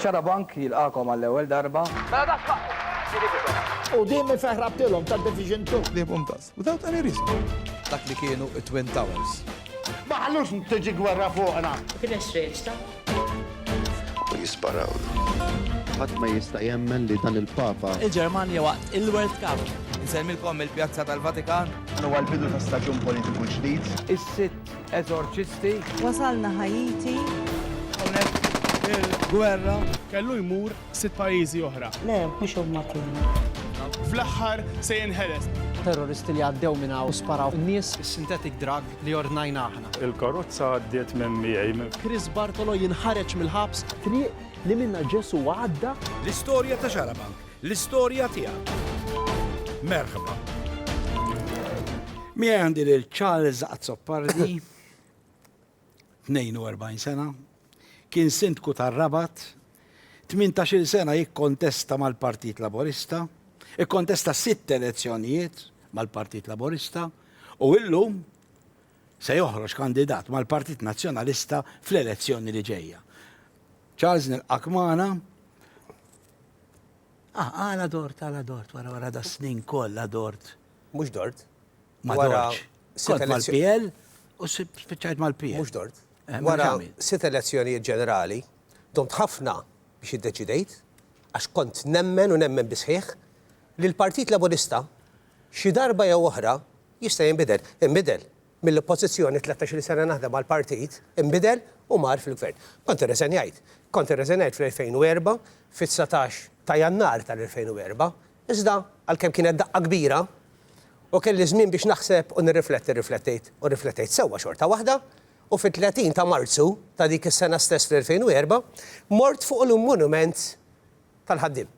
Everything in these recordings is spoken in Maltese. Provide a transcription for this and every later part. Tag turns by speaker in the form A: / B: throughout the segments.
A: Xarabank jilqagħkom għall-ewwel darba.
B: Quddiem ifeħ rabtilhom ta' Division Two. Ħliebhom daqs. Without
C: any reason. Dak li kienu
D: t-Twin Towers. Ma ħallux
B: tiġi gwerra fuqna. Ma kienx reċta.
E: U jisparawlu. Ħadd ma jista' jemmen li dan il-Papa. Il-Ġermanja waqt
F: il-World Cup. Insellmilkom mill-Pjazza
D: tal-Vatikan. Dan huwa l-bidu ta'
C: staġun politiku ġdid. Is-sitt.
A: Eżorċisti. Wasalna
G: Ħaiti. Hawnhekk
D: il-gwerra. Kellu jmur
H: sitt pajjiżi oħra. Le, mhux huma
G: kienu. Fl-aħħar
H: se jinħeles. Terroristi li għaddew
F: minn hawn u sparaw in-nies. Is-synthetic drug li ordnajna aħna. Il-karozza għaddiet
H: minn miegħi. Chris Bartolo
F: jinħareġ mill-ħabs. Triq li minnha
B: Ġesù għadda. L-istorja ta'
I: Xarabank L-istorja tiegħek. Merħba. Miegħi għandi lil Charles Azzopardi, 42 sena, kien Sindku tar-Rabat, 18-il sena jikkontesta mal-Partit Laburista, ikkontesta sitt elezzjonijiet mal-Partit Laburista u illum se joħroġ kandidat mal-Partit Nazzjonalista fl-elezzjoni li ġejja. Charles nilqak magħna. Ah, għala dort, għala dort, wara wara da snin kollha dort. Mhux dort.
D: Ma
I: dortx. Kont mal-PL u spiċċajt mal-PL. Mhux dort. Eh, wara
D: sitt elezzjonijiet ġenerali, domt ħafna biex iddeċidejt, għax kont nemmen u nemmen bisħiħ, li l-Partit Laburista xi darba jew oħra jista' jinbidel. Inbidel. mill-Oppożizzjoni, tlettax-il sena naħdem għall-partit, inbidel u mar fil-Gvern. Kont irreżenjajt. Kont irreżenjajt fl-2004, fit-dsatax ta' Jannar tal-2004. Iżda, għalkemm kienet daqqa kbira u kelli żmien biex naħseb u nirrifletti, rriflettejt u rriflettejt sewwa xorta waħda u fit-30 ta' Marzu ta' dik is-sena stess fl-2004, mort fuq il-Monument tal-Ħaddiem.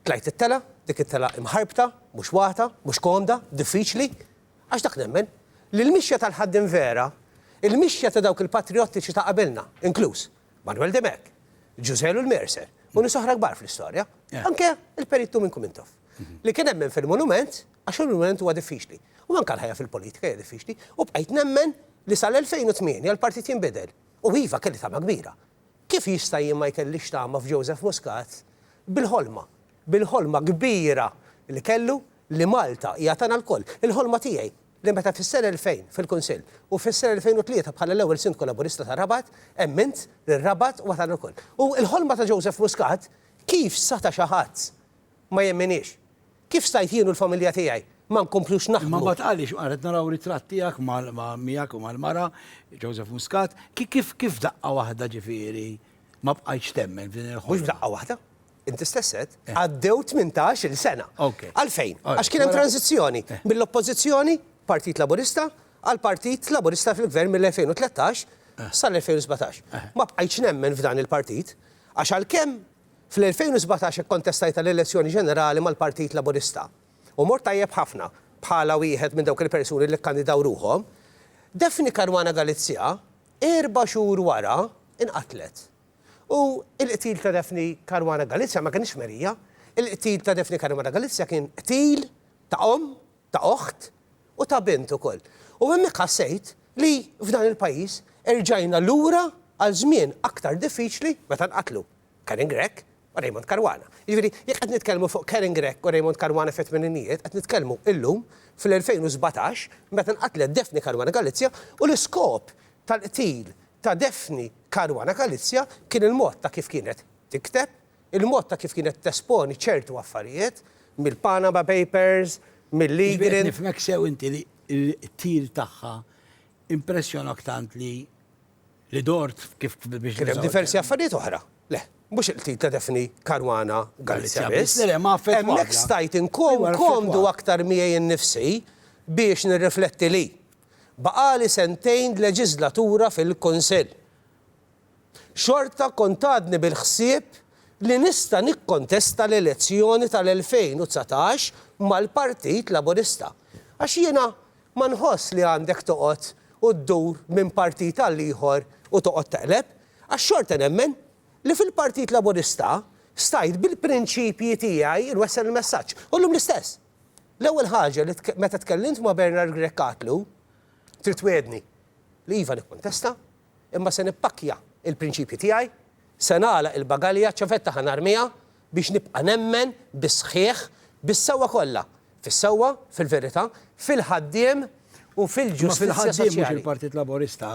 D: Tlajt it-telgħa, dik it-telgħa imħarbta, mhux wagħta, mhux komda, diffiċli, Għax dak nemmen, li l-mixja tal-ħaddiem vera, il-mixja ta' dawk il-patrijottiċi ta' qabilna, inkluż Manuel Demek, Ġużè Lul Mercer u nies oħra kbar fl-istorja, anke il-Perit Tumin Kumintoff, li kien emmen fil-monument għax il-monument huwa diffiċli. U anke l-ħajja fil-politika hija diffiċli. U bqajt nemmen li sal-2008 l-partit jinbidel. U iva, kelli tama kbira. Kif jista' jien ma jkellix tama f'Joseph Muscat bil-ħolma, bil-ħolma kbira li kellu li Malta hija tagħna lkoll. Il-ħolma tiegħi li meta fis-sena 2000 fil-Kunsill u fis-sena 2003 bħala l-ewwel Sindku Laburista ta' Rabat emmint li r-Rabat huwa tagħna lkoll. U l-ħolma ta' Joseph Muscat kif seta' xi ħadd ma jemminix. Kif stajt jien u l-familja tiegħi ma nkomplux naħdmu? Imma mbagħad għaliex, qed naraw
I: ritratt tiegħek miegħek u mal-mara, Joseph Muscat, kif daqqa waħda ġifieri ma bqajtx temmen f'din il-ħolma? Mhux f'daqqa waħda.
D: Inti stess għedt, għaddew tmintax-il sena. Għalfejn? Għax kien hemm tranżizzjoni mill-Oppożizzjoni, Partit Laburista, għal Partit Laburista fil-Gvern mill-2013 sal-2017. Ma bqajtx nemmen f'dan il-partit għax għalkemm, Fl-2017 ikkontestajt għall-elezzjoni ġenerali mal-Partit Laburista u mort tajjeb ħafna bħala wieħed minn dawk il-persuni li kkandidaw ruħhom. Daphne Caruana Galizia erba' xhur wara nqatlet. U l-qtil ta' Daphne Caruana Galizia ma kinitx merija. Il-qtil ta' Daphne Caruana Galizia kien qtil ta' omm ta' oħt u ta' bint ukoll. U hemmhekk ħassejt li f'dan il-pajjiż erġajna lura għal żmien aktar diffiċli meta nqatlu Karen Grech u Raymond Caruana. Jiġifieri, jekk qed nitkellmu fuq Karen Grech u Raymond Caruana fit-tmeninijiet, qed nitkellmu illum fl-2017 meta nqatlet Daphne Caruana Galizia u l-iskop tal-qtil ta' Daphne Caruana Galizia kien il-mod ta' kif kienet tikteb, il-mod ta' kif kienet tesponi ċertu affarijiet, mill-Panama Papers, mill-Lee Jiġifieri qed Grill. nifhmek sew inti
I: li l-qtil tagħha impressjonak tant li li dort kif biex Kien hemm diversi affarijiet
D: oħra. Le, mhux il-qtil ta' Daphne Caruana Galizia biss. Le, le, ma affettwatha. Hemmhekk stajt inkun Ejwa, affettwatha. komdu aktar miegħi nnifsi biex nirrifletti li, baqagħli sentejn leġiżlatura fil-Kunsill. xorta kont għadni bil-ħsieb li nista' nikkontesta l-elezzjoni tal-2019 mal-Partit Laburista. Għax jiena ma nħoss li għandek toqgħod u ddur minn partit għal ieħor u toqgħod teqleb, għax xorta nemmen li fil-Partit Laburista stajt bil-prinċipji tiegħi nwessel il-messaġġ. U llum l-istess. L-ewwel ħaġa li meta tkellimt ma' Bernard Grech għadtlu, Trid twiegħdni li iva nikkontesta imma se nippakkja l-prinċipji tiegħi, se nagħlaq il-bagalja, ċ-ċavetta ħa narmiha biex nibqa' nemmen bis-sħiħ, bis-sewwa kollha, fis-sewwa, fil-verità, fil-ħaddiem u fil-ġustizzja soċjali. Imma fil-ħaddiem mhux il-Partit Laburista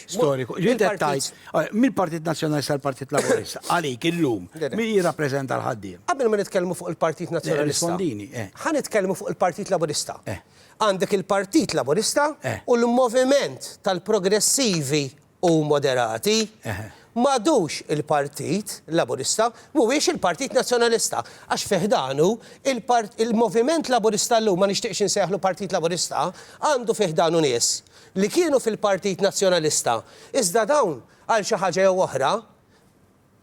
I: storiku.
D: Int qed
I: tgħid, mill-Partit Nazzjonalista l-Partit Laburista, għalik illum, min jirrappreżenta l-ħaddiem? Qabel ma nitkellmu fuq
D: il-Partit Nazzjonalista. Irrispondini. Ħa nitkellmu fuq il-Partit Laburista. Għandek il-Partit Laburista u l-Moviment tal-Progressivi u Moderati. M'għadux il-Partit Laburista, mhuwiex il-Partit Nazzjonalista, għax fi ħdanu il-Moviment Laburista llum, ma nixtieqx insejjaħlu Partit Laburista, għandu fi ħdanu nies li kienu fil-Partit Nazzjonalista, iżda dawn għal xi ħaġa jew oħra,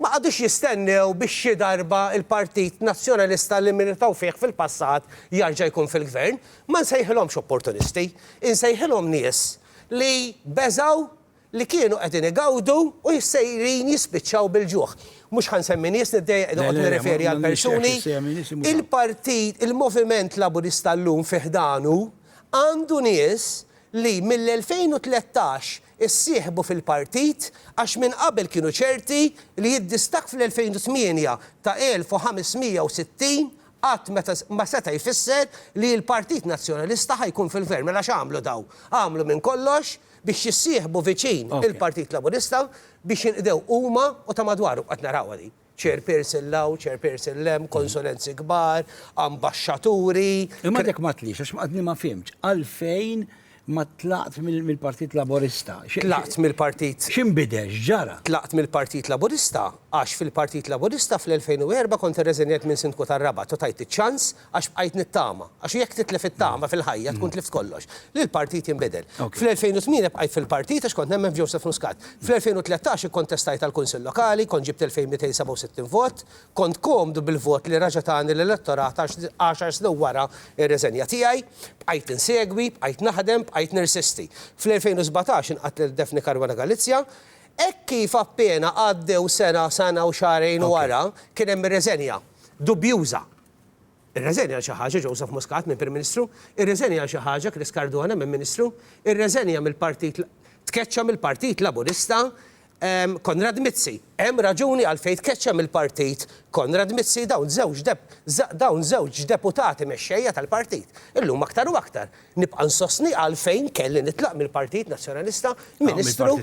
D: Ma qagħdux jistennew biex xi darba l-Partit Nazzjonalista li militaw fih fil-passat jarġa' jkun fil-Gvern. Ma nsejħilhomx opportunisti. Insejħilhom nies li beżgħu li kienu qegħdin igawdu u sejrin jispiċċaw bil-ġuħ. Mhux ħa nsemmi nies, niddejjaq noqgħod nirreferi għal persuni. Il-Partit, il-Moviment Laburista llum fi ħdanu għandu nies li mill-2013 issieħbu fil-partit għax minn qabel kienu ċerti li d-distakk fl-2008 ta' 1,560 qatt ma seta' jfisser li l-Partit Nazzjonalista ħa jkun fil-Gvern. Mela x'għamlu dawn? Għamlu minn kollox biex jissieħbu viċin il-Partit Laburista biex jinqdew huma u ta' madwarhom. Qed narawha din. Chairperson 'l hawn, Chairperson 'l hemm, konsonanzi kbar, ambaxxaturi. Imma għadek ma
I: tliex, għax għadni ma fhimtx, għalfejn ma tlaqt mill-Partit Laburista? Tlaqt mill-Partit.
D: X'inbidel, x'ġara?
I: Tlaqt mill-Partit
D: Laburista għax fil-Partit Laburista fl-2004 kont irreżenjajt minn Sindku tar-Rabat u tajt iċ-ċans għax bqajt nittama. Għax jekk titlef it-tama fil-ħajja tkun tlift kollox. Li l-partit jinbidel. Fl-2008 bqajt fil-partit għax kont nemmen f'Joseph Muscat. Fl-2013 ikkontestajt għall-Kunsill Lokali, kont ġibt 2,267 vot, kont komdu bil-vot li reġa' tani l-elettorat għax għaxar snin wara r-reżenja tiegħi. Bqajt insegwi, bqajt naħdem, bqajt nirsisti. Fl-2017 inqatlet Daphne Caruana Galizia. Hekk kif appena għaddew sena, sena u xahrejn wara, kien hemm ir-reżenja. Dubjuża. Irreżenja għal xi ħaġa Joseph Muscat minn Prim Ministru? Irreżenja għal xi ħaġa Chris Cardona minn Ministru? Irreżenja mill-Partit tkeċċa mill-Partit Laburista Konrad Mizzi? Hemm raġuni għalfejn tkeċċa mill-Partit Konrad Mizzi dawn żewġ dawn żewġ deputati mexxejja tal-Partit. Illum aktar u aktar nibqa' nsostni għalfejn kelli nitlaq mill-Partit Nazzjonalista Ministru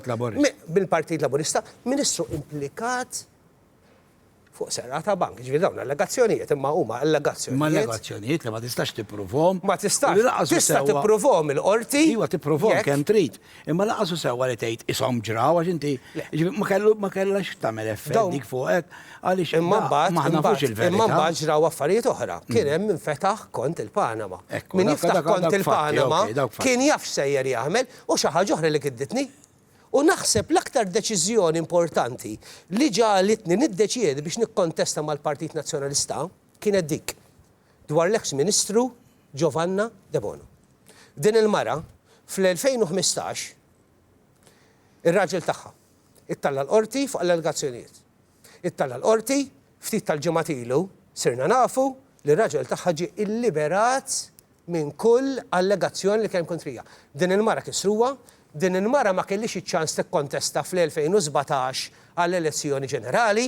D: mill-Partit Laburista Ministru implikat fuq serqa ta' bank. Ġifieri dawn allegazzjonijiet imma huma allegazzjonijiet. Imma allegazzjonijiet li
I: ma tistax tippruvhom. Ma tistax.
D: Tista' tippruvhom il-qorti. Iva tippruvhom kemm
I: trid. Imma lanqas hu sewwa li tgħid ishom ġraw għax inti ma kellhax tagħmel effett dik fuqek għaliex imma mbagħad ma nafux
D: il-verità. Imma mbagħad ġraw affarijiet oħra. Kien hemm min fetaħ kont il-Panama. Min jiftaħ kont il-Panama kien jaf x'sejjer jagħmel u xi ħaġa oħra li kidditni U naħseb l-aktar deċiżjoni importanti li ġagħlitni niddeċiedi biex nikkontesta mal-Partit Nazzjonalista kienet dik dwar l-eks Ministru Giovanna Debono. Din il-mara, fl-2015, ir-raġel tagħha ittalla' l-Qorti fuq allegazzjonijiet. It-Tala l-Qorti, ftit tal-ġimgħat ilu, sirna nafu li r-raġel tagħha ġie illiberat minn kull allegazzjoni li kien hemm kontrija. Din il-mara kissruha, din il-mara ma kellhiex iċ-ċans tikkontesta fl-2017 għall-elezzjoni ġenerali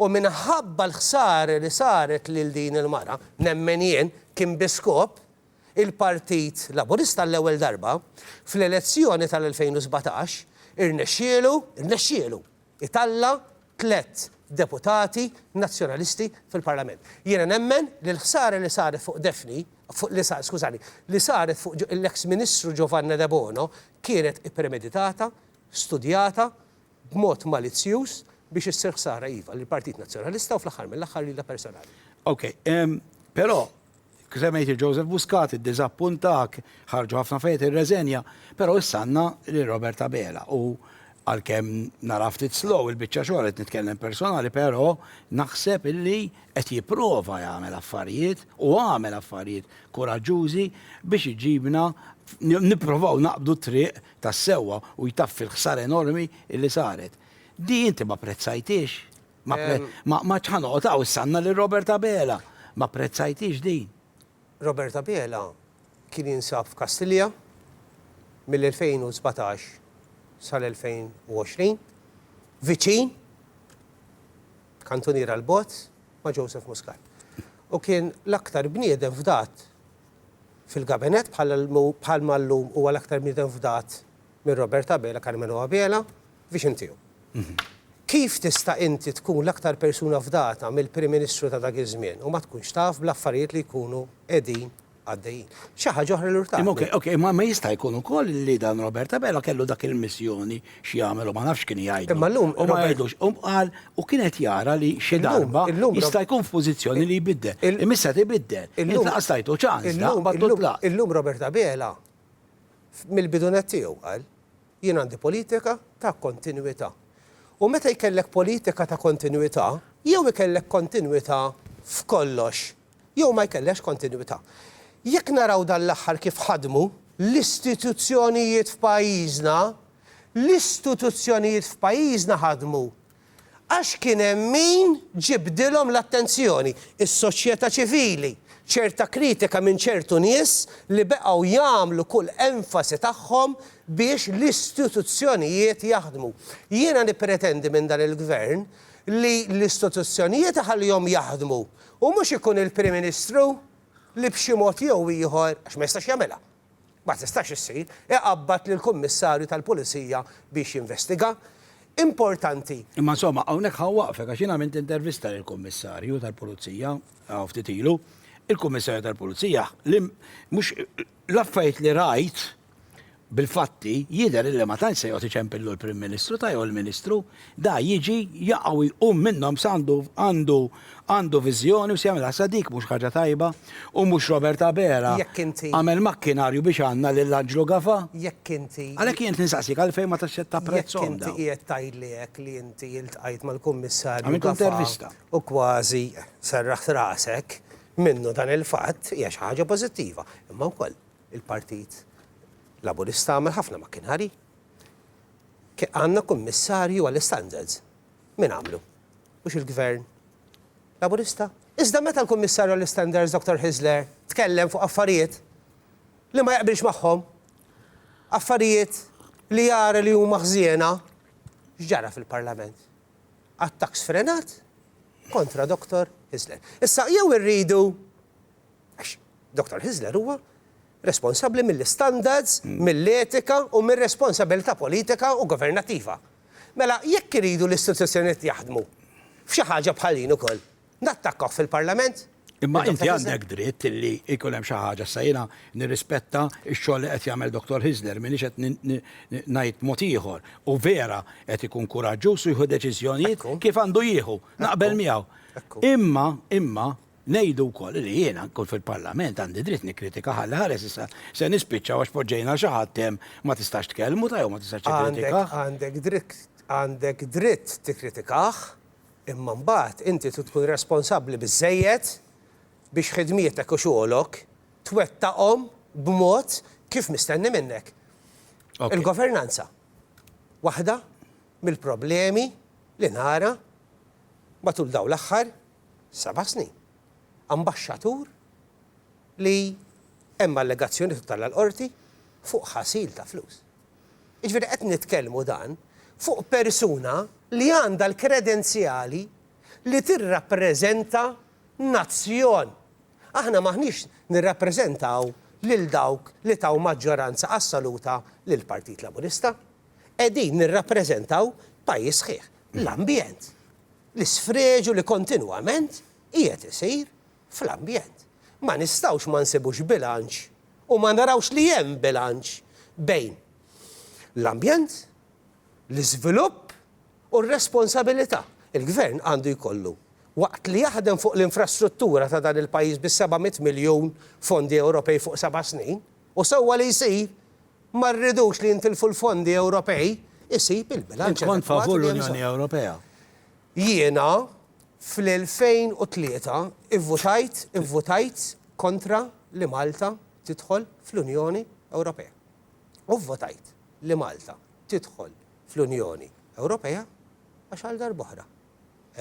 D: u minħabba l-ħsara li saret lil din il-mara, nemmen jien, kien bi skop, il-Partit Laburista għall-ewwel darba, fl-elezzjoni tal-2017, irnexxielu, irnexxielu! italla' tliet deputati Nazzjonalisti fil-Parlament. Jiena nemmen li l-ħsara li saret fuq Daphne, li sa, skużani, li saret fuq l-eks Ministru Giovanna Debono kienet ippremeditata, studjata, b'mod malizzjuż biex issir ħsara iva lill-Partit Nazzjonalista u fl-aħħar mill-aħħar lilha personali. Okej,
I: però, Semmejt lil Joseph Muscat, iddiżappuntak, ħarġu ħafna affarijiet irreżenja, però issa għandna lil Robert Abela u għalkemm naraha ftit slow il-biċċa xogħol, qed nitkellem personali, però naħseb illi qed jipprova jagħmel affarijiet u għamel affarijiet kuraġġużi biex iġibna nipprovaw naqbdu t-triq tas-sewwa u jtaffi l-ħsara enormi illi saret. Din inti ma pprezzajtiex? Ma, pre, Em. ma, ma ċħanoqot għaw s-sanna li Robert Abela. Ma prezzajtix din. Robert
D: Abela kien jinsab f'Kastilja mill-2017 sal-2020, viċin, kantunier għal bogħod, ma' Joseph Muscat. U kien l-aktar bniedem fdat fil-gabinet bħal bħalma llum huwa l-aktar bniedem fdat minn Robert Abela, Karmenu Abela, biex intiehom. Kif tista' inti tkun l-aktar persuna fdata mill-Prim Ministru ta' dak iż-żmien u ma tkunx taf bl-affarijiet li jkunu qegħdin għaddejjin? Xi ħaġa oħra li urtani. Imma ok, imma ma jista'
I: jkun ukoll li dan Robert Abela kellu dak il-missjoni x'jagħmel u ma nafx x'kien jgħidlu. Imma llum Robert. U ma jgħidlux.
D: U qal
I: u kien qed jara li xi darba jista' jkun f'pożizzjoni li jbiddel. Imma issa qed ibiddel. Int lanqas tajtu ċans, daqqa' matul tlaqt. Illum Robert
D: Abela mill-bidu nett tiegħu qal Jien għandi politika ta' kontinwità. U meta jkellek politika ta' kontinwità, jew ikellek kontinwità f'kollox, jew ma jkellekx kontinwità. Jekk naraw dan l-aħħar kif ħadmu l-istituzzjonijiet f'pajjiżna, l-istituzzjonijiet f'pajjiżna ħadmu Għax kien hemm min ġibdilhom l-attenzjoni, is-soċjetà ċivili, ċerta kritika minn ċertu nies li beqgħu jagħmlu kull enfasi tagħhom biex l-istituzzjonijiet jaħdmu. Jiena nippretendi minn dan il-Gvern li l-istituzzjonijiet iħallihom jaħdmu u mhux ikun il-Prim Ministru li b'xi mod jew ieħor, għax ma jistax jagħmilha. ma tistax issir, iqabbad lill-Kummissarju tal-Pulizija biex jinvestiga. Importanti. Imma insomma,
I: hawnhekk ħa waqfek għax jien għamilt intervista lill-Kummissarju tal-Pulizija hawn ftit ilu. Il-Kummissarju tal-Pulizija li mhux l-affarijiet li rajt bil-fatti jidher li ma tantx se jgħod iċempillu l-Prim Ministru ta' jew il-Ministru Da jiġi, jaqa' u jqum minnhom s'għandu, għandu, għandu viżjoni u s'jagħmilha sa dik mhux ħaġa tajba u mhux Robert Abela Jekk inti. għamel makkinarju biex għandna lil Anġlu Gafa? Jekk inti. Għalhekk
D: jien qed nistaqsik
I: għalfejn ma tax ta' prezzhom dawn? Jekk inti qiegħed tgħidli
D: hekk li inti iltqajt mal-Kummissarju Gafa. Għamilt intervista.
I: U kważi
D: serraħt rasek minnu dan il-fatt hija xi ħaġa pożittiva. Imma wkoll il-Partit Laburista għamel ħafna makkinarji. Għandna kummissarju għall-istandards. Min għamlu? Mhux il-Gvern Laburista? Iżda meta l-Kummissarju għall-Istandards Dr. Hyzler tkellem fuq affarijiet li ma jaqbilx magħhom, affarijiet li jara li huma ħżiena, x'ġara fil-Parlament? Attakk sfrenat kontra Dr. Hyzler. Issa jew irridu għax Dr. Hyzler huwa responsabbli mill-istandards, mill-etika u mir-responsabilità politika u governattiva. Mela, jekk iridu l-istituzzjonijiet jaħdmu f'xi ħaġa bħal din ukoll, nattakkawh fil-Parlament? Imma inti
I: għandek dritt li jkun hemm xi ħaġa. Issa jiena nirrispetta x-xogħol li qed jagħmel Dottor Hyzler, m'iniex qed ngħid mod ieħor. U vera qed ikun kuraġġuż u jieħu deċiżjonijiet kif għandu jieħu. Naqbel miegħu. Imma, imma, Ngħidu wkoll li jien ankun fil-Parlament għandi dritt nikkritika ħalli ħares issa se nispiċċaw għax poġġejna xi ħadd hemm ma tistax tkellmu ta' jew ma tistax tikkritikah. Għandek dritt
D: għandek dritt tikkritikah imma mbagħad inti trid tkun responsabbli biżżejjed biex ħidmietek u xogħolok twettaqhom b'mod kif mistenni minnek. Il-governanza waħda mill-problemi li nara matul dawn l-aħħar seba' snin. Ambaxxatur li hemm allegazzjonijiet u tella' l-Qorti fuq ħasil ta' flus. Jiġifieri qed nitkellmu dan fuq persuna li għandha l-kredenzjali li tirrappreżenta nazzjon. Aħna m'aħniex nirrappreżentaw lil dawk li taw maġġoranza assoluta lill-Partit Laburista. Qegħdin nirrappreżentaw pajjiż sħiħ. L-ambjent. L-isfreġu li kontinwament qiegħed isir fl-ambjent. Ma nistgħux ma nsibux bilanċ u ma narawx li hemm bilanċ bejn l-ambjent, l-iżvilupp u r-responsabilità. Il-Gvern għandu jkollu, waqt li jaħdem fuq l-infrastruttura ta' dan il-pajjiż bis-700 miljun fondi Ewropej fuq seba' snin, u sewwa li jsir, Ma rridux li jintilfu l-fondi Ewropej, isib il-bilanċ adekwat li hemm bżonn. Int kont favur l-Unjoni
I: Ewropea? Jiena
D: fl-2003 ivvutajt ivvutajt kontra li Malta tidħol fl-Unjoni Ewropea. U vvotajt li Malta tidħol fl-Unjoni Ewropea għax għal darb'oħra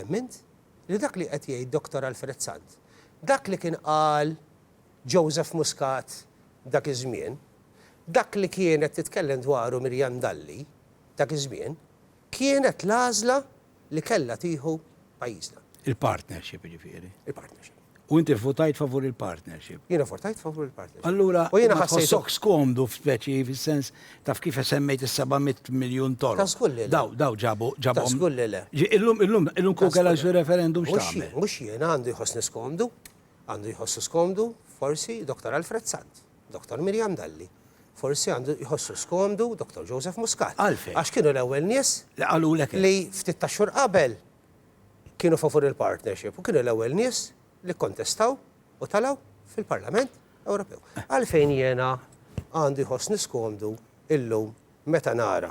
D: emmint li dak li qed jgħid Dottor Alfred Sant, dak li kien qal, Joseph Muscat dak iż-żmien, dak li kienet titkellem dwaru Miriam Dalli dak iż-żmien kienet l-għażla li kellha tieħu pajjiżna. Il-partnership
I: jiġifieri. Il-partnership. U
D: inti vvutajt
I: favur il-partnership. Jiena vvutajt favur
D: il-partnership. Allura ma
I: tħossokx
D: skomdu
I: f'speċi fis-sens taf kif semmejt is-seba' mitt miljun toroq. Ta' żgur li le. Daw daw ġabu ġabhom. Ta' żgur li le.
D: Illum illum illum kieku
I: kellha jsir referendum x'tagħmel? Mhux jien għandu jħossni
D: skomdu. Għandu jħossu skomdu, forsi, Dottor Alfred Sant, Dottor Miriam Dalli, forsi għandu jħossu skomdu Dottor Joseph Muscat. Għalfejn? Għax kienu l-ewwel
I: nies
D: li qalulek hekk. Li ftit tax-xhur qabel kienu favur il-partnership u kienu l-ewwel nies li kkontestaw u telgħu fil-Parlament Ewropew. Għalfejn jiena għandu jħossni skomdu illum meta nara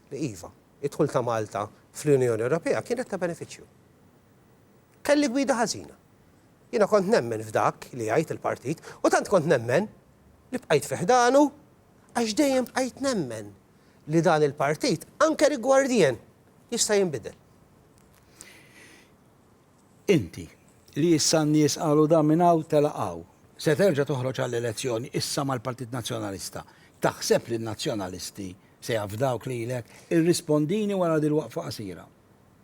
D: li iva, id-dħul ta' Malta fl-Unjoni Ewropea kienet ta' benefiċċju. Kelli gwida ħażina. Jiena kont nemmen f'dak li jgħid il-partit u tant kont nemmen li bqajt fi ħdanu għax dejjem bqajt nemmen li dan il-partit anke rigwardien jista' jinbidel.
I: Inti, li issa n-nies qalu dan minn hawn telaq hawn, se terġa' toħroġ għall-elezzjoni issa mal-Partit Nazzjonalista, taħseb li n-Nazzjonalisti se jafdawk lilek? Irrispondini wara dil-waqfa qasira.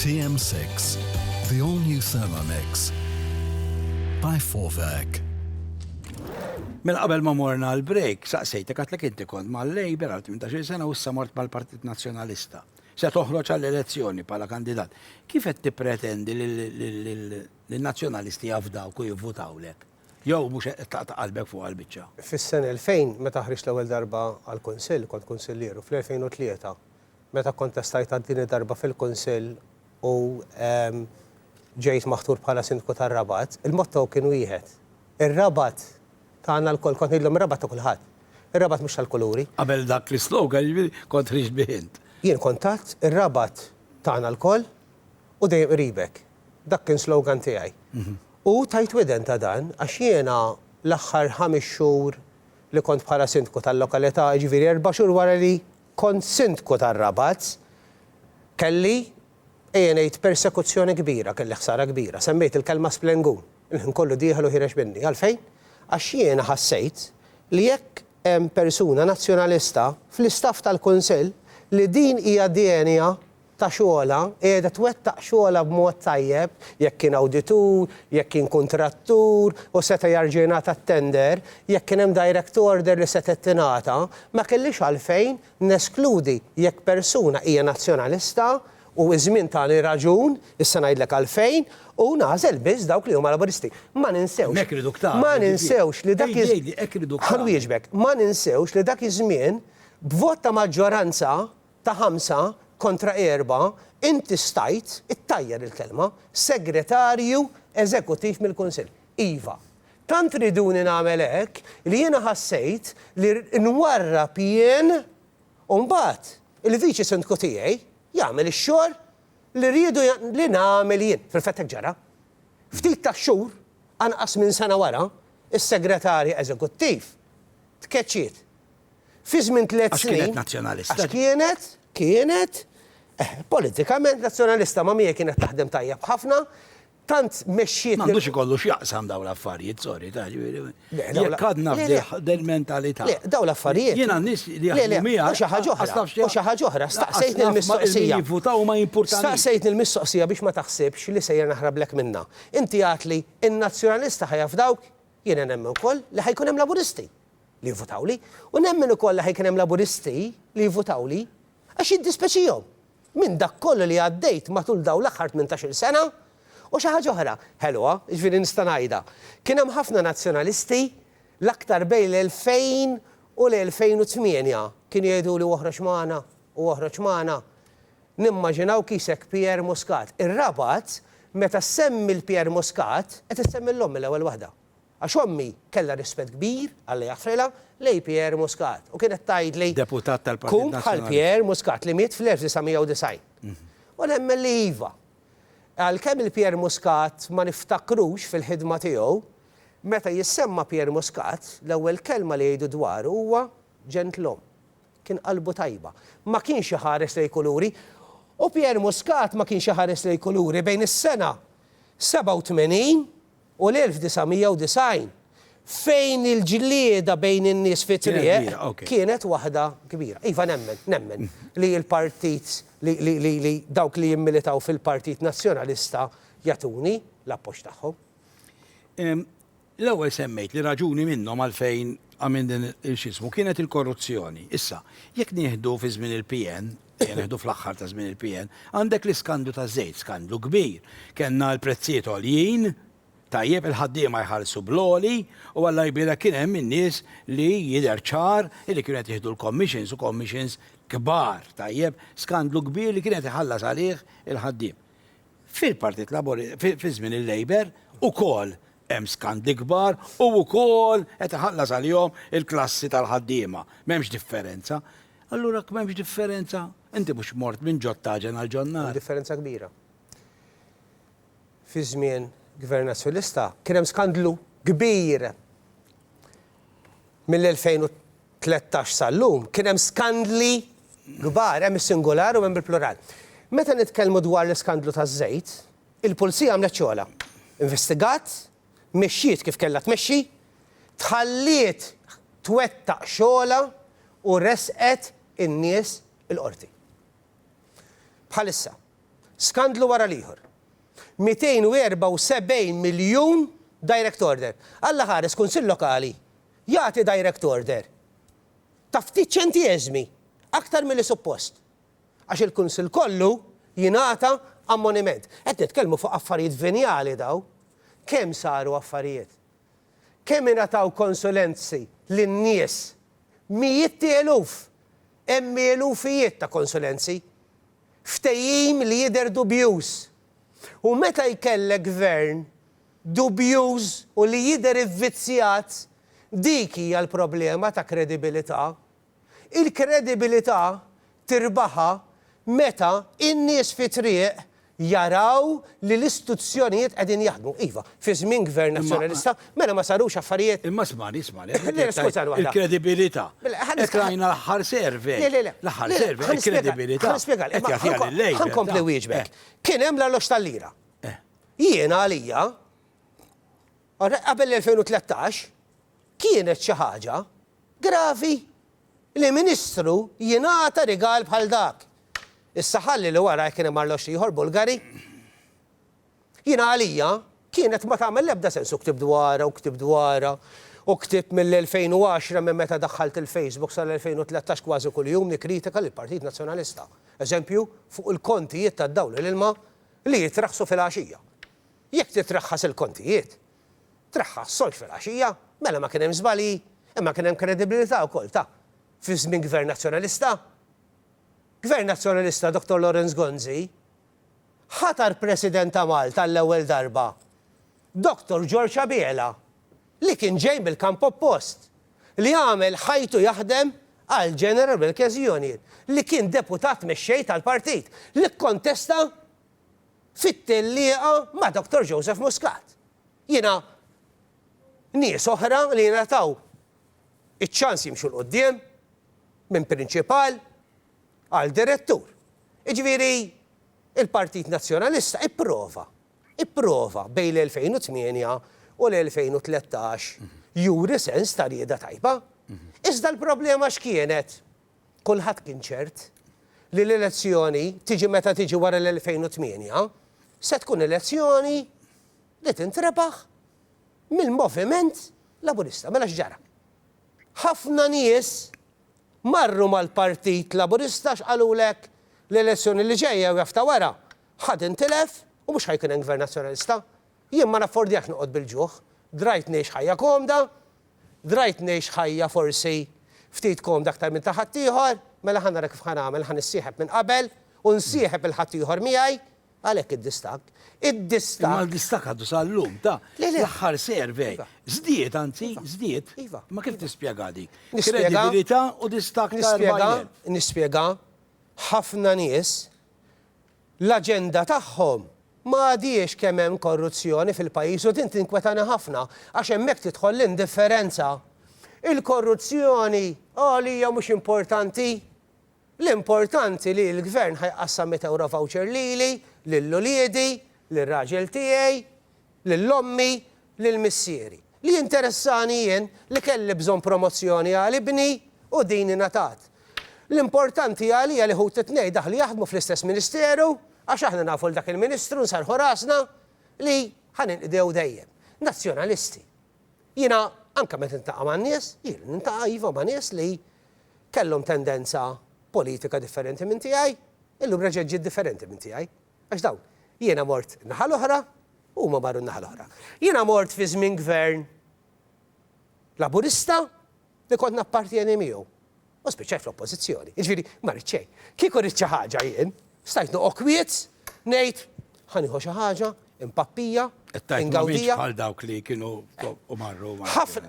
J: TM6, the all new Thermomix by Forvac.
I: Mela qabel ma morna għal break, saqsejtek għatlek inti kont ma' Labour għal 18 sena u issa mort mal-Partit Nazzjonalista. Se toħroġ għall-elezzjoni bħala kandidat. Kif qed tippretendi li nazzjonalisti jafdaw u jivvutawlek? Jew mhux qed taqta' qalbek fuq għall-biċċa? Fis-sena 2000
D: meta ħriġt l-ewwel darba għall-Kunsill, kont kunsillier, u fl-2003 Meta kkontestajtha t-tieni darba fil-Kunsill u ġejt maħtur bħala Sindku tar-Rabat, il-motto kien wieħed, Ir-Rabat tagħna lkoll. Kont ngħidilhom ir-Rabat ta' kulħadd. Ir-Rabat mhux tal-kuluri. Qabel dak l-islogan,
I: jiġifieri, kont tħrix bih int. Jien kont għedt,
D: Ir-Rabat tagħna lkoll u dejjem qribek. Dak kien slogan tiegħi. U tajt widen ta' dan għax jiena l-aħħar ħames xhur li kont bħala Sindku tal-lokalità, jiġifieri erba' xhur wara li Kont Sindku tar-Rabat, kelli, ejja ngħid, persekuzzjoni kbira, kelli ħsara kbira. Semmejt il-kelma splengun. Il-ħin kollu dieħel u ħiereġ minni. Għalfejn? Għax jiena ħassejt li jekk hemm persuna Nazzjonalista fl-istaff tal-Kunsill, li din hija djenja ta' xogħolha, qiegħda twettaq xogħolha b'mod tajjeb, jekk kien awditur, jekk kien kuntrattur u seta' jerġa' jingħata t-tender, jekk kien hemm direct order li setgħet tingħata, ma kellix għalfejn neskludi jekk persuna hija Nazzjonalista u ż-żmien tani raġun, issa ngħidlek għalfejn, u nagħżel biss dawk li huma Laburisti. Ma ninsewx, ma ninsewx li dak iż-żmien, ħa nwieġbek, ma ninsewx li dak iż-żmien, b'vot ta' maġġoranza, ta' ħamsa kontra erba' inti stajt ittajjar il-kelma segretarju eżekuttiv mill-Kunsill. Iva. Tant riduni nagħmel hekk li jiena ħassejt li nwarrab jien u mbagħad il-viċi sindku tiegħi jagħmel ix-xogħol li riedu li nagħmel jien. Fil-fatt hekk ġara. Ftit tax-xhur, anqas minn sena wara, is-segretarja eżekuttiv tkeċċiet. Fi żmien tliet snin. Għax kienet Nazzjonalista. Għax
I: kienet,
D: kienet, eh, politikament Nazzjonalista ma' miegħi kienet taħdem tajjeb ħafna, tant mexxiet. M'għandux ikollu x'jaqsam
I: dawn l-affarijiet, sorry, ta' ġifieri. Jekk għadna f'dil mentalità. Le, dawn l-affarijiet.
D: Jiena n-nies li jaħdmu
I: miegħi. U xi ħaġa oħra. U
D: xi ħaġa oħra, staqsejtni l-mistoqsija. Jivvutaw ma jimpurtanix.
I: Staqsejtni l-mistoqsija
D: biex ma taħsibx li sejjer naħrablek minnha. Inti għedt li n-Nazzjonalista ħajafdawk, jiena nemmen ukoll li ħajkun hemm Laburisti. li jivvutawli, u nemmen ukoll li ħajkun hemm Laburisti li jivvutawli, għax jiddispeċihom minn dak kollu li għaddejt matul dawn l-aħħar tmintax-il sena, u xi ħaġa oħra ħelwa, jiġifieri nista' ngħidha, kien hemm ħafna Nazzjonalisti, l-aktar bejn l-2000 u l-2008, kienu jgħiduli oħroġ magħna u oħroġ magħna, nimmaġinaw kisek Pierre Muscat. Ir-Rabat, meta ssemmi 'l Pierre Muscat, qed issemmi 'l omm mill-ewwel waħda. Għax ommi kellha rispett kbir għal Lea Ħrela, lejn Pierre Muscat, u kienet tgħidli, Kun
I: bħal Pierre
D: Muscat li miet fl-1990. U nemmen li iva. Għalkemm il-Pierre Muscat ma niftakrux fil-ħidma tiegħu, meta jissemma Pierre Muscat, l-ewwel kelma li jgħidu dwaru huwa ġentlom. Kien qalbu tajba. Ma kienx iħares lejn kuluri. U Pierre Muscat ma kienx iħares lejn kuluri bejn is-sena 87 u l-1990, fejn il-ġlieda bejn in-nies fit-triq kienet waħda kbira. Iva, nemmen, nemmen li l-partit, li dawk li jimmilitaw fil-Partit Nazzjonalista jagħtuni l-appoġġ tagħhom. L-ewwel
I: semmejt li raġuni minnhom għalfejn għamilt din il-, x'ismu, kienet il-korruzzjoni. Issa, jekk nieħdu fi żmien il-PN, Jieħdu fl-aħħar ta' żmien il-PN, għandek l-iskandlu taż-żejt, skandlu kbir. Kellna l-prezzijiet għoljin, tajjeb il-ħaddiema jħallsu bl-għoli u Alla jbierek kien hemm in-nies li jidher ċar li kienu qed jieħdu l-commissions u commissions kbar, tajjeb, skandlu kbir li kien qed iħallas għalih il-ħaddiem. Fil-Partit Laburista, fi żmien il-Labour, ukoll Hemm skandi kbar u wkoll qed iħallas għalihom il-klassi tal-ħaddiema. M'hemmx differenza. Allura jekk m'hemmx differenza, inti mhux mort minn ġod taġen għal ġod nar. Hemm differenza kbira.
D: Fi żmien Gvern Nazzjonalista kien hemm skandlu kbir. Mill-2013 sal-lum kien hemm skandli kbar, hemm is-singular u hemm il-plural. Meta nitkellmu dwar l-iskandlu taż-żejt, Il-Pulzija għamlet xogħolha, investigat, mexxiet kif kellha tmexxi, tħalliet twettaq xogħolha u ressqet in-nies il-Qorti. Bħalissa, skandlu wara l-ieħor. 274 miljun direct order. Alla ħares Kunsill Lokali jagħti direct order ta' ftit ċentieżmi aktar milli suppost. Għax il-Kunsill kollu jingħata ammoniment. Qed nitkellmu fuq affarijiet venjali dawn. Kemm saru affarijiet? Kemm ingħataw konsulenzi lin-nies? Mijiet ti eluf! Hemm elufijiet ta' konsulenzi. Ftehim li jidher dubjuż. U meta jkellek Gvern dubjuż u li jidher ivvizzjat, dik hija l-problema ta' kredibilità Il-kredibilità tirbaħha meta n-nies fit-triq jaraw li l-istuzzjonijiet qegħdin jaħdmu. Iva, fi żmien Gvern Nazzjonalista, mela ma sarux affarijiet? Imma smani, smani,
I: qed ngħidlek tajjeb, il-kredibilità. Hekk rajna l-aħħar survey. Le, le, le. L-aħħar survey, il-kredibilità. Ħa nispjegalek. Qed jagħtiha lill-Labour. Ħa nkompli nwieġbek.
D: Kien hemm l-alloġġ tal-lira. Jiena għalija. Għalhekk qabel l-2013 kienet xi ħaġa gravi li Ministru jingħata rigal bħal dak. Issa ħalli li wara jekk kien hemm arloġġ ieħor Bulgari. Jiena għalija kienet ma tagħmel l-ebda sens u ktibt dwarha u ktibt dwarha u ktibt mill-2010 minn meta daħħalt il-Facebook sal-2013 kważi kuljum nikkritika lill-Partit Nazzjonalista. Eżempju fuq il-kontijiet tad-dawl u l-ilma li jitraħħsu filgħaxija. Jekk titraħħas il-kontijiet, traħħas solx filgħaxija, mela ma kien hemm żbalji, imma kien hemm kredibilità wkoll ta' fi żmien Gvern Nazzjonalista. Gvern Nazzjonalista Dottor Lawrence Gonzi ħatar President ta' Malta għall-ewwel darba Dottor George Abela li kien ġej mill-kamp oppost, li għamel ħajtu jaħdem għal General Workers Union, li kien deputat mexxej tal-partit, li kkontesta fit-tellieqa ma' Dottor Joseph Muscat. Jiena nies oħra li ngħataw iċ-ċans jimxu 'l quddiem minn prinċipal għal direttur. Jiġifieri l-Partit Nazzjonalista ipprova, ipprova bejn l-2008 u l-2013 juri sens ta' rieda tajba. Iżda l-problema x'kienet? Kulħadd kien ċert li l-elezzjoni, tiġi meta tiġi wara l-2008, se tkun elezzjoni li tintrebaħ mill-Moviment Laburista. Mela x'ġara? Ħafna nies marru mal-Partit Laburista għax qalulek l-elezzjoni li ġejja jew jaf ta' wara, ħa tintilef u mhux ħa jkun hemm Gvern Nazzjonalista. Jien ma naffordjax noqgħod bil-ġuħ. Drajt ngħix ħajja komda. Drajt ngħix ħajja forsi ftit komda aktar minn ta' ħaddieħor. Mela ħa nara kif ħa nagħmel, ħa nissieħeb minn qabel u nsieħeb il-ħaddieħor miegħi. Għalhekk id-distakk. Id-distakk. Imma
I: l-distakk għadu sal-lum, ta'. Le, le. L-aħħar survey. Żdied, anzi, żdied. Iva. Imma kif tispjegha dik? Nispjega. Kredibilità u distakk ta' 4000. Nispjega. Nispjega.
D: Ħafna nies. l-aġenda tagħhom ma għadhiex kemm hemm korruzzjoni fil-pajjiż u din tinkwetani ħafna għax hemmhekk tidħol l-indifferenza. Il-korruzzjoni għalija mhux importanti. L-importanti li l-Gvern ħa jqassam mitt ewro voucher lili, lil uliedi, lir-raġel tiegħi, lil ommi, lil missieri. Li jinteressani jien li kelli bżonn promozzjoni għal ibni u din ingħatat. L-importanti għalija li ħuti t-tnejn daħlu jaħdmu fl-istess ministeru għax aħna nafu 'l dak il-ministru nserrħu rasna li ħa ninqdew dejjem. Nazzjonalisti. Jiena anke meta niltaqa' man-nies, jien niltaqa' iva ma' nies li kellhom tendenza politika differenti minn tiegħi, illum reġgħet ġiet differenti minn tiegħi. Għax dawn, jiena mort in-naħa l-oħra u huma marru n-naħa l-oħra. Jiena mort fi żmien Gvern Laburista li kont nappartjeni miegħu u spiċċajt fl-Oppożizzjoni. Jiġifieri, ma ridt xejn. Kieku ridt xi ħaġa jien, stajt noqgħod kwiet, ngħid, ħa nieħu xi ħaġa, impappija, ingawdija.
I: Bħal dawk li
D: kienu
I: u marru.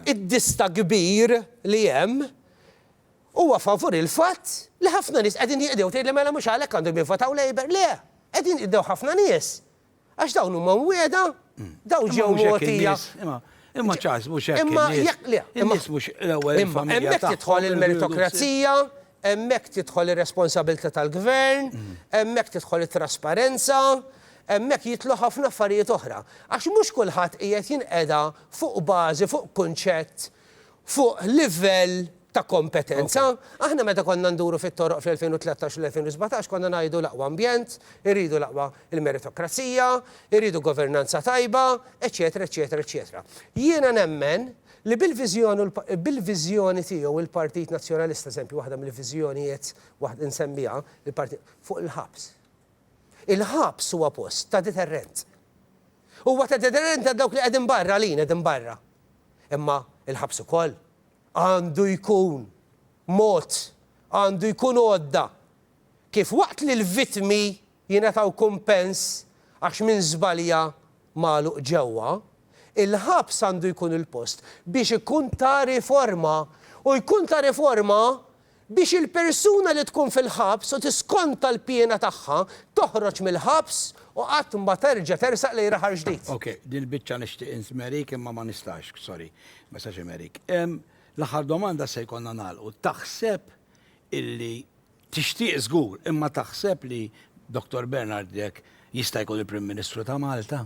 I: Id-dista
D: kbir li hemm Huwa favur il-fatt li ħafna nies qegħdin jinqdew. Tgħidli mela mhux għalhekk għandhom jivvotaw Labour. Le, qegħdin jinqdew ħafna nies għax dawn huma mwiegħda, dawn ġew mogħtija. Imma
I: Charles mhux hekk in-nies.
D: In-nies mhux l-ewwel
I: il-familja tagħhom. Hemmhekk tidħol
D: il-meritokrazija, hemmhekk tidħol ir-responsabilità tal-gvern, hemmhekk tidħol it-trasparenza, hemmhekk jidħlu ħafna affarijiet oħra. Għax mhux kulħadd qiegħed jinqeda fuq bażi, fuq kunċett fuq livell ta' kompetenza. Aħna meta konna nduru fit-toroq fl-2013 u l-2017 konna ngħidu l-aqwa ambjent, irridu l-aqwa l-meritokrazija, irridu governanza tajba, eċċetera, eċċetera, eċċetera. Jiena nemmen li bil-viżjoni u bil-viżjoni tiegħu l-Partit Nazzjonalista, eżempju waħda mill-viżjonijiet waħda nsemmiha, il-Partit, fuq il-ħabs. Il-ħabs huwa post ta' deterrent. Huwa ta' deterrent għal dawk li qegħdin barra, għalin qegħdin barra. Imma l-ħabs ukoll għandu jkun mod, għandu jkun għodda kif waqt li l-vittmi jingħataw kumpens għax min żbalja magħluq ġewwa, il-ħabs għandu jkun il-post biex ikun ta' riforma u jkun ta' riforma Biex il-persuna li tkun fil-ħabs u tiskonta l-piena tagħha toħroġ mill-ħabs u qatt ma terġa' tersaq lejn raħal ġdid. Ok, dil biċċa
I: nixtieq insmerik imma ma nistax, sorry, ma nistax imerik. Ehm, l-aħħar domanda se jkollna nagħlqu. Taħseb illi, tixtieq żgur, imma taħseb li Dottor Bernard Grech jista' jkun il-Prim Ministru ta' Malta?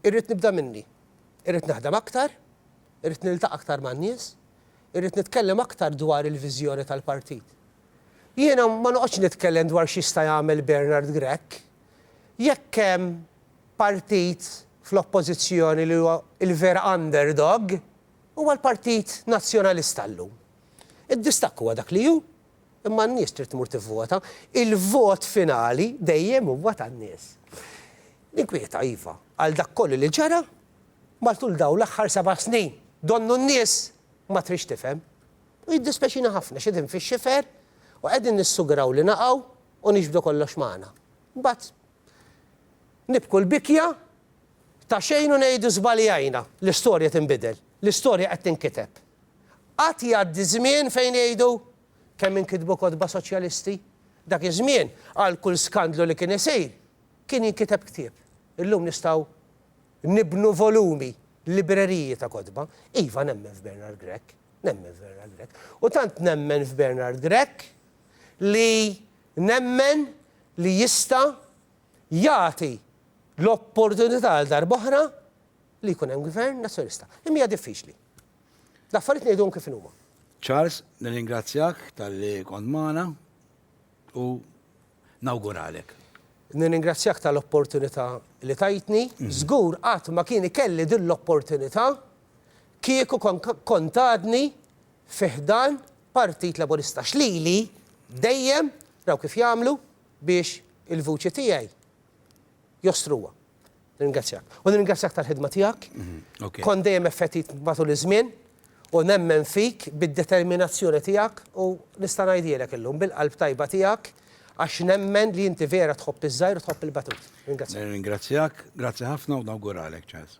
D: Irrid nibda minni. Irrid naħdem aktar, irrid niltaqa' aktar man-nies, irrid nitkellem aktar dwar il-viżjoni tal-partit. Jiena ma noqgħodx nitkellem dwar x'jista' jagħmel Bernard Grech. Jekk hemm partit fl-Oppożizzjoni li huwa l-vera underdog, huwa l-Partit Nazzjonalista llum. Id-distakk huwa dak li hu, Imma n-nies trid tmur tivvota. Il-vot finali dejjem huwa tan-nies. Ninkwieta, iva, għal dak kollu li ġara matul dawn l-aħħar seba' snin. Donnu n-nies ma tridx tifhem. U jiddispeċina ħafna għax qegħdin fix-xifer u qegħdin nissuguraw li naqgħu u niġbdu kollox magħna. Imbagħad Nibku l-bikja ta' xejn u ngħidu żbaljajna. L-istorja tinbidel. L-istorja qed tinkiteb. Qatt jgħaddi żmien fejn jgħidu, Kemm inkitbu kotba Soċjalisti? Dak iż-żmien, għal kull skandlu li kien isir, kien jinkiteb ktieb. Illum nistgħu nibnu volumi, libreriji ta' kotba. Iva, nemmen f'Bernard Grech. Nemmen f'Bernard Grech. U tant nemmen f'Bernard Grech li Nemmen li jista' jagħti l-opportunità għal darba oħra li jkun hemm Gvern Nazzjonalista. Imma hija diffiċli. L-affarijiet ngħiduhom kif inhuma. Charles,
I: nirringrazzjak tal-li kont magħna u nawguralek.
D: Nirringrazzjak tal-opportunità li tajtni. Żgur qatt ma kien ikelli din l-opportunità kieku kont għadni fi ħdan Partit Laburista għax lili dejjem raw kif jagħmlu biex il-vuċi tiegħi jostruha. Nirringrazzjak. U nirringrazzjak tal-ħidma tiegħek. Mhm, Kont dejjem effettit matul iż-żmien u nemmen fik bid-determinazzjoni tiegħek u nista' ngħidilek illum bil-qalb tajba tiegħek għax nemmen li inti vera tħobb iż-żgħir u tħobb il-batut. Ringrazzjak. Ringrazzjak,
I: grazzi ħafna u nawguralek ċans.